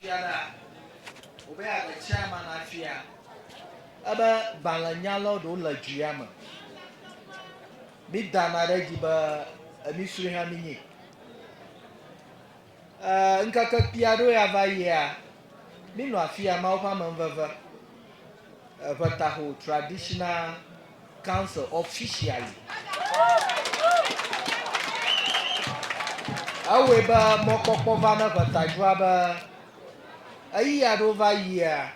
Fiaɖa, wobe agbe tsia ma na fia ebe gbalẽ nya lɔ ɖewo le dzuya me. Mi dana ɖe dzi be emi srui hã mi nyi. E, ŋkeke kpia ɖo ya va yia, mi nɔ afia ma woƒe amenveve. Ʋetaho Traditional Council officially. Ewɔe be mɔkpɔkpɔ va ne ʋetadua be eyi aɖewo va yia,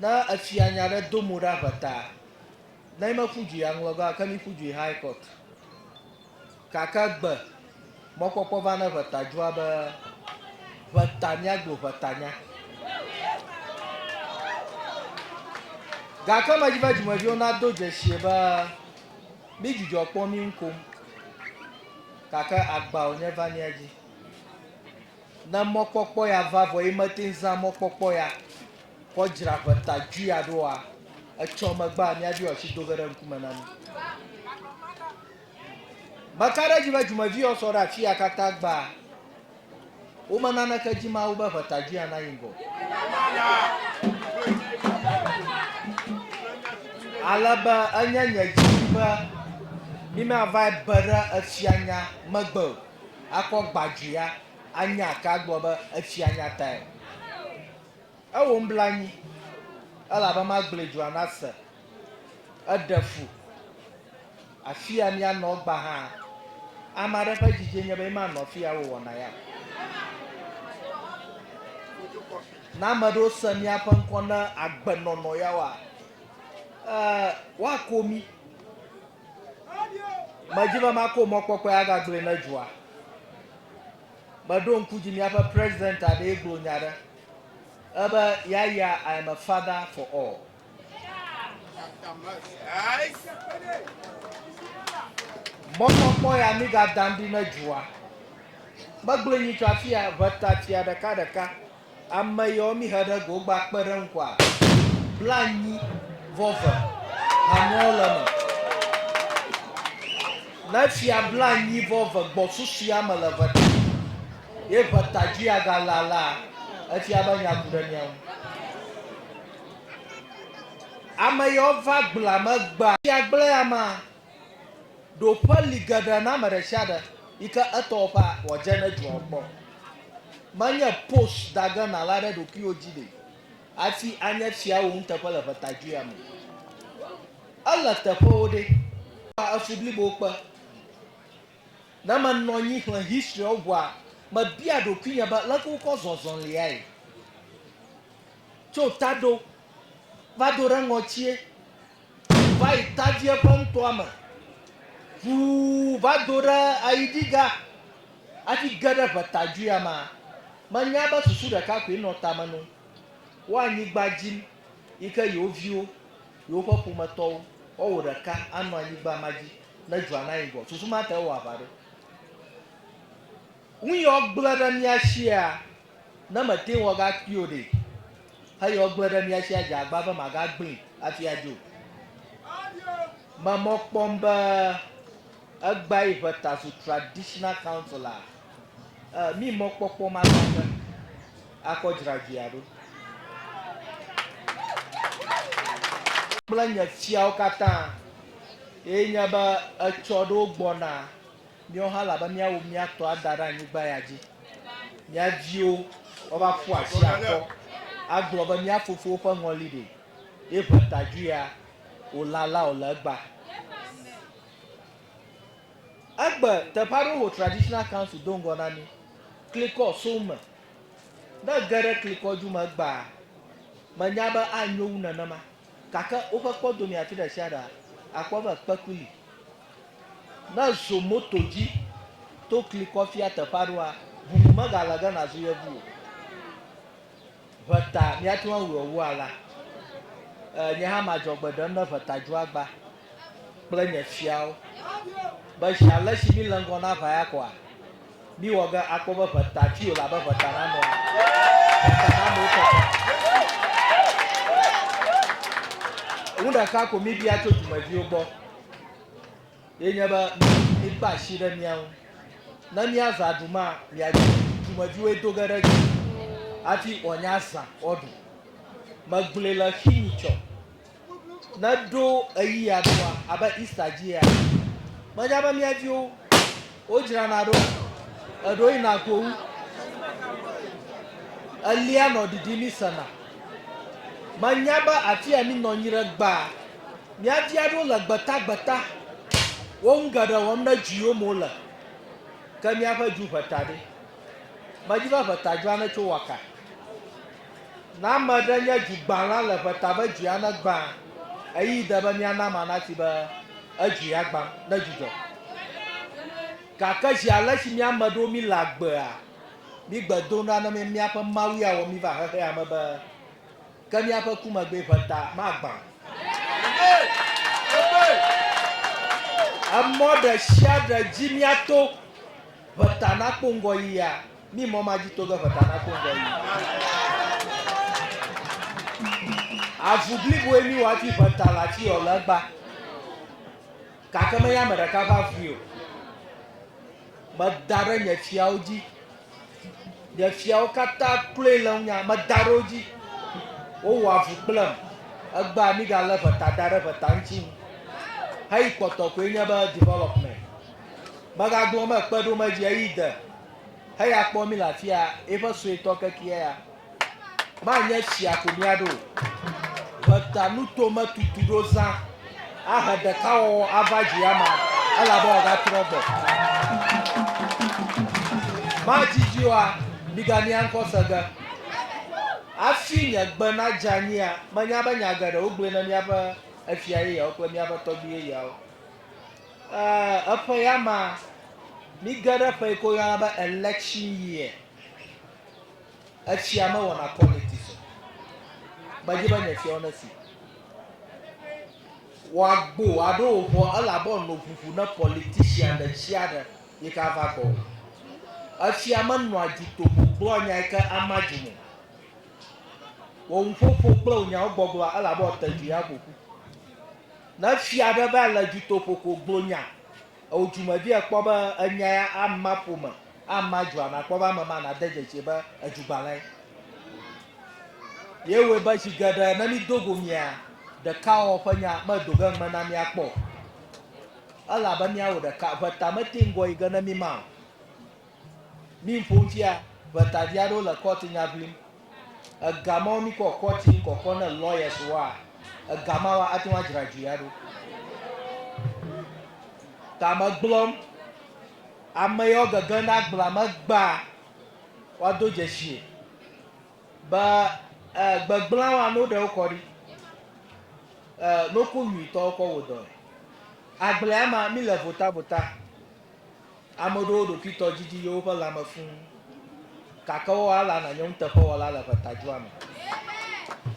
ne efia nya ɖe do mo ɖa ʋeta, ne mi me ƒu dui aŋlɔ ga o, ke mi ƒu dui High Court. Gake egbe mɔkpɔkpɔ va ne ʋeta dzoa be ʋeta miagblɔ ʋetanya. Gake medzi be dzimeviwo nado dzeshie be mi dzudzɔ kpɔ mi ŋu kom gake agba wònye va mia dzi. Ne mɔkpɔkpɔ ya va vɔ ye mete ŋu zã mɔkpɔkpɔ ya kɔ dzra ʋeta dzoe ya ɖoa, etsɔ megbea miaɖo asi do ge ɖe ŋkume na mi. Meka ɖe edzi be dzimeviyɔ sɔ ɖe afia katã gbaa. Wome naneke dzi Mawu be ʋetajuia nayi ŋgɔ o. Ale be enye nye didi be mímavae be ɖe efianya megbe o, akɔ gbadzuia, anya ke agblɔ be efianya tae o. Ewom bla anyi, elabe magblẽ dua na se. Eɖe fu, afia mianɔ gbã hã. Ame aɖe ƒe dzidzie nye be ye manɔ afia wòwɔna ya o. Ne ame aɖewo se míaƒe ŋkɔ ne agbenɔnɔ ya oa, ee, woako mí. Medi be mako mɔkpɔkpɔe agagblɔe ne dua. Meɖo ŋku dzi míaƒe President aɖee gblɔ nya aɖe Ebe yaya I am a father for all. Mɔkpɔkpɔ ya mi ga dan ɖi ne dua. Megblɔe nyitsɔ afia ʋeta tsia ɖeka ɖeka. Ame yɔ mi he ɖe go gba kpe ɖe ŋkɔa. Bla nyi vɔ ve. Hanuɔ le me. Ne fia bla nyi vɔ ve gbɔ susu ya me le ʋeta. Ye ƒe ta dzi agalã la, efia be nya ku ɖe mía ŋu. Ame yawo va gblẽa me gbea. Sia gblẽ amea, ɖo ƒe li geɖe na ame ɖe sia ɖe yi ke etɔ woƒea wòadze ne dua wo kpɔ. Menye post da ge nàla ɖe ɖokuiwò dzi ɖe hafi anye fia wò nuteƒe le ƒe ta dzia me. Ele teƒewo ɖe? Kpɔa efu blibowo kpe. Ne menɔ anyi xlẽ history-awo ŋua, mebia ɖokuinye be leke wokɔ zɔzɔliae? Tso taɖo va do ɖe ŋɔtie, ŋu va yi tavie ƒe ŋtɔa me, ŋu va do ɖe ayiɖiga hafi ge ɖe ŋetadzoea mea, menya be susu ɖeka koe nɔ tame no, Wo anyigba dzim yi ke yewo viwo, yewoƒe ƒometɔwo, woawɔ ɖeka anɔ anyigba ma dzi. Ne dua na yi gɔ, fufu ma te wɔ aʋa ɖe. Ŋu yɔ gble ɖe mía shia, ne me te wɔ ga kpio ɖe. He yɔ gble ɖe mía shia dze agba be ma ga gblin afi a dzo. Me mɔ kpɔm be egba yi ʋe ta zu traditional council a. Eh, mi mɔ kpɔkpɔ ma ta fe. Akɔ dzra dzi a ɖo. Kple nye fiawo katã. Ye nya be etsɔ aɖewo gbɔna míawo hã elabe míawu mía tɔ ada ɖe anyigba ya dzi. Mía viwo woava ƒu asi akɔ agblɔ be mía fofowo ƒe ŋɔli ɖi ye ʋe ta dju ya wòlã la o le egba. Egbe teƒe aɖewo ho traditional council do ŋgɔ na mí. Klikɔ so eme. Ne ge ɖe klikɔ dju me egbea, menya be anyo wu nenema. Gake woƒe kpɔdomea fi ɖesiaɖea, àkpɔ be kpeku li. Ne èzɔ moto dzi to kli kɔ fia teƒe aɖewoa, ʋuʋu megale ge nàzu yevu o. Ʋeta, míate ŋu awɔe wu alea. Nye hã madzɔ agbe ɖem ne ʋeta dzo agba. kple nye fiawo be zi ale si míle ŋgɔ na ʋa ya koa, míwɔ ge akpɔ be ʋe ta tui wòle abe ʋe ta nanewo ene. Ʋe ta nanewo keke. Nu ɖeka ko míbia tso dumeviwo gbɔ ye nye be míkpe asi ɖe mía ŋu. Ne míazã aɖuma, miadi dumeviwoe do ge ɖe dzi hafi wòanye azã woaɖu. Megblɔe le xi nyitsɔ. Ne ɖo ɣeyiɣia ɖoa, abe Easter dzi ya, menya be mía viwo wodzrana ɖo, eɖewo yina gowu, elia nɔ ɖiɖim mísena. Menya be afia minɔ anyi ɖe gbaa, mía vi aɖewo le gbetagbeta wo ŋu geɖe wɔm ne dzi yom wole. Ke míaƒe dzu ʋe ta ɖe? Medi be ʋe ta dzɔa ne tso waka. Ne ame ɖe nye dzi gbã la le ƒe ta be dzia ne gbã, ɣeyiɣi de be mía na ma nati be edzi ya gbã ne dzudzɔ. Gake zi alesi mía ame ɖewo mí le agbea, mí gbe dom ɖa ne míaƒe Mawu ya wɔ mí va xexea me be ke míaƒe ku megbee ƒe ta ma gbã o. Emɔ ɖe sia ɖe dzi mía to ƒe ta na kpɔ ŋgɔ yiyia. Mí mɔ ma dzi to ge ƒeta na to ŋgɔ yi. Avu bliboe mí wa ti ƒeta la tsi yɔ le gba. Gake me ya me ɖeka va vui o. Me da ɖe nye fiawo dzi. Nye fiawo kata kloe le ŋunya. Me da ɖe wo dzi. Wo wɔ avu kple m. Egba mí ga le ƒeta da ɖe ƒeta ŋutsi ŋu. Heyi kpɔtɔ koe nye be development. Me ga gblɔ me kpe ɖo me dzi eyi de. heya kpɔ mí le afia, eƒe suetɔ kekeɛ ya. Manye tsia ko míaɖo o. Ʋeta nuto metutu ɖo zã ahe ɖekawɔwɔ ava dzi ama, elabe wòagatrɔ gbɔ. Madzidzi oa, migania ŋkɔ se ge. Afi nye gbe nadze anyia, menya be nya geɖe wogblɔe na míaƒe efia yeyeawo kple míaƒe tɔgbui yeyeawo. Ɛɛ, eƒe ya ma. Míge ɖe ƒe yi ke woyɔna be election year. Etsia mewɔna politics o. Medzi be nye fiawo nesi. Wòagbo aɖo wò ŋɔ elabe èno ŋuŋu ne politician ɖesiaɖe yi ke ava gbɔwò. Etsia menɔa dzi tovo gblɔa nya yi ke ama dzum o. Wò nuƒoƒo kple wò nyawo gbɔgblɔa elabe wòate ŋui aƒo ƒu. Ne fia aɖe va le dutoƒo ko gblɔ nya eo dumevi ekpɔ be enya ya ama ƒome, ama dua, nàkpɔ be ame ma nade dzesii be edugbalẽe. Ye wɔe be zi geɖe ne mído go mia, ɖekawɔwɔ ƒe nya medo ge ŋugbe na mía kpɔ o. Elabe míawɔ ɖeka, ʋe ta mete ŋgɔ yi ge ne míma o. Mí ŋƒom fia be tadi aɖewo le kɔti nya ʋlim. Ega mawo mí kɔ kɔti ŋ kɔkɔ ne lawyers woa, ega mawoa ate ŋu adzra dui aɖo. Ta me gblɔm, ame yawo gege na agblea me gbaa woa do dzesie be eh, gbegblã woa no ɖe wo kɔ ɖi, eh, no ku nyui tɔ wo kɔ wo dɔe. Agblea ma mí le vota vota. Ame ɖewo ɖokuitɔ didi yewo ƒe lãme fũ, gake woa alea na nye nuteƒewɔla le ʋetadzua me.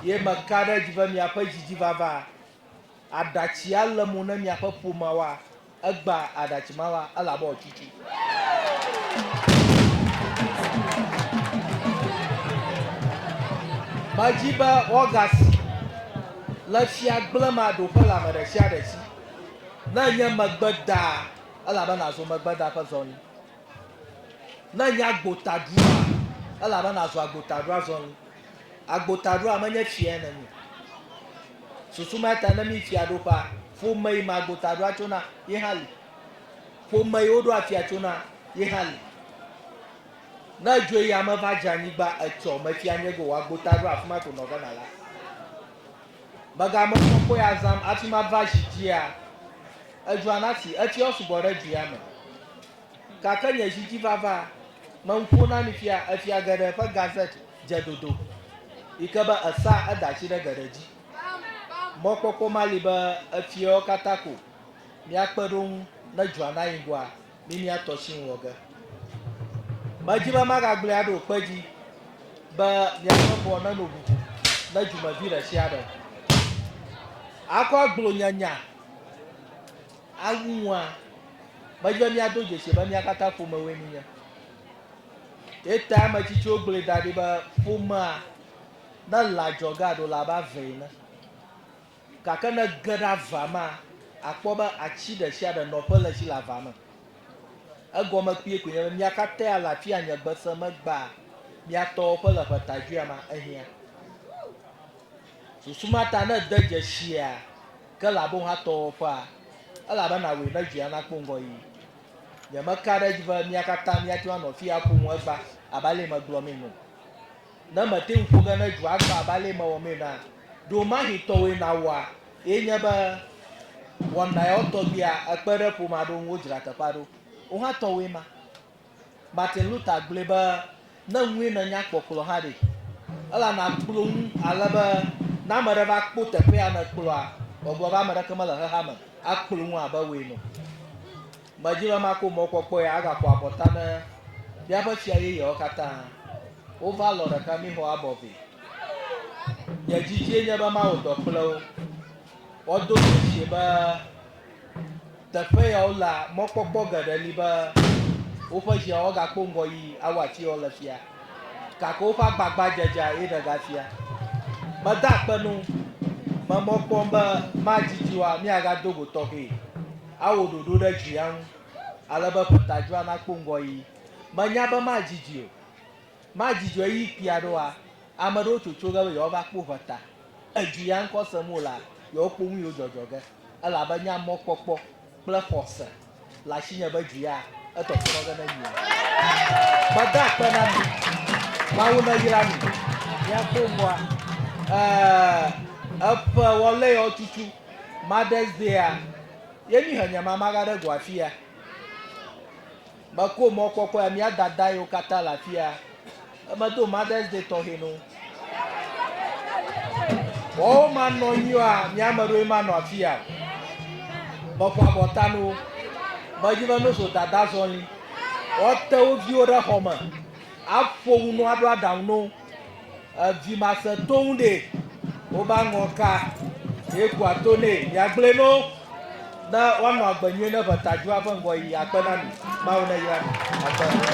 Ye meka ɖe edzi be miaƒe dzidzi vava aɖatsi alé mo ne miaƒe ƒomea wa egba aɖatsi ma la, elabe wòatsutsu. Medi be woagasi le fia gblẽm aɖo ƒe lãme ɖe sia ɖe si. Ne nye megbe daa, elabe nàzu megbeda ƒe zɔli. Ne nye agbotaɖua, elabe nàzu agbotaɖua zɔli. Agbotaɖua menye tsi ene mi. Susu ma ta ne mi fiaɖuƒea, ƒome yi me agbotaɖua tso na, ye hã li. Ƒome yi woɖo afia tso na, ye hã li. Ne edzoe yi ame va dze anyigba etsɔ mefia nye go wɔ agbotaɖua, afi ma ko nɔgena la. Mega me kpɔ kpɔe azam afi ma va zi dzia edzua na si etsiɔ sugbɔ ɖe dzuia me. Gake nye zi dzi vava me nuƒo na mi fia efia geɖe ƒe gazette dze dodo yi ke be esa edasi ɖe geɖe dzi. Mɔ kpɔkpɔ ma li be efiawo katã ko mia kpe ɖo ŋu ne dzua na yi ŋgɔa. Mi mia tɔ tsi ŋ wɔ ge. Me dzi be maga gblɔe aɖo kpe dzi be mia ƒe ŋua ne no ʋuʋu ne dzumevi ɖe tsia ɖe. A kɔ agblo nye nya a wu ŋua. Me dzi be mia do dzesi be mia kata ƒome woe mi nye. Ye ta ame tsitsiwo gblɔe da ɖi be ƒomea ne le adzɔge aɖo la ba vɛ ene. Gake ne ège ɖe avea mea, àkpɔ be atsi ɖe sia ɖe nɔƒe le esi le avea me. Egɔme kpuie koe nye be mia katã ale afi anye gbe se me gbaa mia tɔwo ƒe le ƒeta dzoea mea ehiã. Susu ma ta ne ède dzesia ke le aboha tɔwo ƒea, ele be nàwɔe ne dzoea nakpɔ ŋgɔyiyi. Nyemeka ɖe edzi be mia katã miate ŋu anɔ afi aƒo nu egba abe ale megblɔ mee ene o. Ne mète ŋu ƒo ge ne dzoa agbã abe alea mewɔmee na ɖewomahi tɔwòe nàwɔa, ye nye be wɔna yawo tɔgbuia ekpe ɖe ƒome aɖewo ŋu wodzra teƒea ɖo. Wò hã tɔwòe ma. Martin Luther gblɔe be, Ne ŋue nènya kpɔ kplɔ hã ɖe, ele nàkplɔ ŋu ale be ne ame aɖe va kpɔ teƒe ya nèkplɔa, wòagblɔ be, Ame aɖeke mele xexea me akplɔ ŋu abe wòe ene o. Medi be makpɔ mɔkpɔkpɔe agaƒo abɔta ne míaƒe fia yeyeawo katã. Wova lɔ̃ ɖeka míexɔ abɔ vɛ. Nye didiee nye be mawɔ dɔ kple wo. Wodo dzesii be teƒe yawo lea, mɔkpɔkpɔ geɖe li be woƒe viawo agakpɔ ŋgɔyi awu afi yawo le fia, gake woƒe agbagbadzedzea ye ɖega fia. Meda akpe na wo. Me mɔ kpɔm be madidi oa, míagado go tɔxɛe. Awɔ ɖoɖo ɖe dzia ŋu ale be ƒetadzroa nakpɔ ŋgɔɣi. Menya be madzi dzi o. Madzi dzi o ɣeyiɣi kpui aɖewoa, ame aɖewo tsotso ge be yewoava kpɔ ʋeta. Edzi ya ŋkɔ sem wolea, yewokpɔ nu yiwo dzɔdzɔ ge, elabe nye amɔkpɔkpɔ kple xɔse le asinye be dzi ya etɔtrɔ ge ne nyui. Meda akpe na mi. Mawu neyra mi. Miakpɔ ŋgɔa. Ɛɛ, eƒe Wɔleyawo tutu. Mother's Day-a ye mi he nye mama va ɖe go afia. Meko mɔkpɔkpɔe mía dada yiwo katã le afia. Emedo Mother's Day tɔxɛ no. Wɔwo manɔ nyuia mía ame ɖewo manɔ afia. Meƒo abɔta no. Medzi be no so dada zɔli. Woate wo viwo ɖe xɔ me. Aƒo nu no aɖo aɖaŋu no. Edzi ma se toŋ ɖe wo ba ŋɔ ka ye kua to ne ya gble no ne wa nɔ agbe nyuie ne ʋe ta ju aƒe ŋgɔ yi ya kpe na mi ma wo ne yra mi akpe.